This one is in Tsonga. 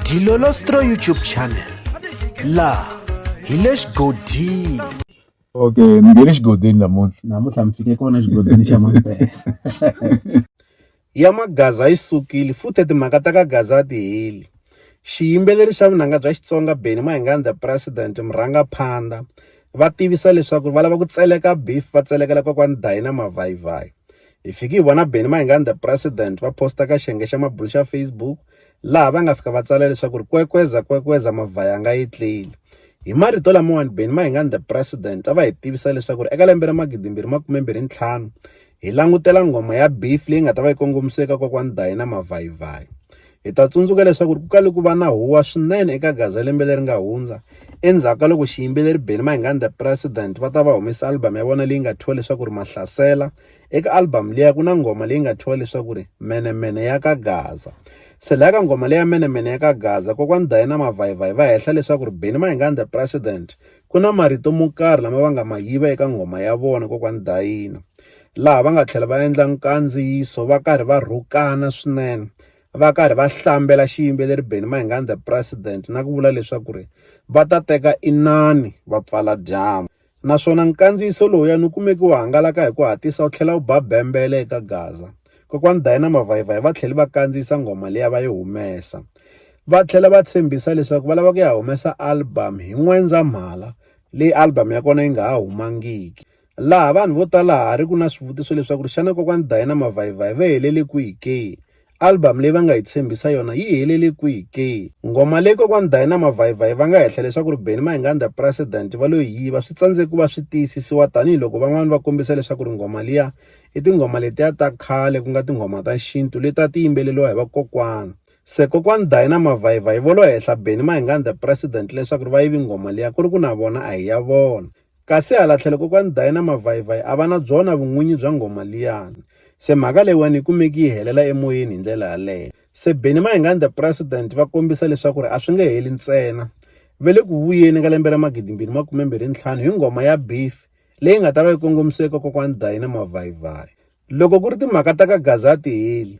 Dilolostro YouTube channel laha hi le xigodini okay ni nge le xigodini namuntlha namuntlha mi fike kona xigodini xa mampela ya magaza yi sukile futhi timhaka ta ka gaza ti heli xiyimbeleri xa vunanga bya xitsonga beni mahingani the president murhangaphandha va tivisa leswaku va lava ku tseleka beef va tselekela kokwani dayina mavhayivhayi Hi fike hi vona Benny Mayengani the President va posta ka xiyenge xa mabulo xa Facebook laha va nga fika va tsala leswaku ri kwekweza kwekweza mavhayanga yi tlile. Hi marito lamawani Benny Mayengani the President a va hi tivisa leswaku ri eka lembe ra magidimbirhi makume mbirhi ntlhanu hi langutela nghoma ya beef leyi nga ta va yi kongomisiwe eka kokwani Diana Mavhayivhayi. Hi ta tsundzuka leswaku ri ku kale ku va na huwa swinene eka Gaza lembe leri nga hundza endzhaku ka loko xiyimbeleri Benny Mayengani the President va ta va humesa album ya vona leyi nga thyiwa leswaku ri Mahlasela Eka album liya ku na nghoma leyi nga thyiwa leswaku ri Menemene ya ka Gaza. Se laya ka nghoma leya Menemene ya ka Gaza, kokwani Diana Mavhayivhayi va hehla leswaku ri Benny Mayengani the President ku na marito mo karhi lama va nga ma yiva eka nghoma ya vona kokwani Diana. Laha va nga tlhela va endla nkandziyiso va karhi va rhukana swinene va karhi va hlambela xiyimbeleri Benny Mayengani the President na ku vula leswaku ri va ta teka inani va pfala dyambu. naswona nkandziyiso lowuya ni kumeke wu hangalaka hi ku hatisa wu tlhela wu ba bembele eka Gaza. Kokwani Dayana Mavayivayi va tlhele va kandziyisa nghoma liya va yi humesa. Va tlhela va tshembisa leswaku va lava ku ya humesa album hi N'wendzamhala leyi album ya kona yi nga ha humangiki. Laha vanhu vo tala ha ha ri ku na swivutiso leswaku ri xana kokwani Dayana Mavayivayi va helele kwihi ke? Album leyi va nga hi tshembisa yona yi helele kwihi ke? Ngoma leyi Kokwana Dayi na Mavhayivhayi va nga hehla leswaku ri Benny Mayinganda President va lo yi yiva swi tsandzeke ku va swi tiyisisiwa tanihi loko van'wana va kombisa leswaku ri nghoma liya i tinghoma letiya ta khale ku nga tinghoma ta xintu leti a ti yimbeleriwa hi vakokwana. Se Kokwana Dayi na Mavhayivhayi vo lo hehla Benny Mayinganda President leswaku ri va yivi nghoma liya ku ri ku na vona a hi ya vona. Kasi hala tlhelo kokwani Dayi na Mavhayivhayi a va na byona vun'winyi bya nghoma liyani. Se mhaka leyiwani yi kumeki yi helela emoyeni hi ndlela yaleyo. Se Benny Mayengani the President va kombisa leswaku ri a swi nge heli ntsena. Va le ku vuyeni ka lembe ra magidimbirhi makumembirhi ntlhanu hi nghoma ya Beef leyi nga ta va yi kongomisiwe eka kokwani Dayi na Mavhayivhayi. Loko ku ri timhaka ta ka Gaza a ti heli.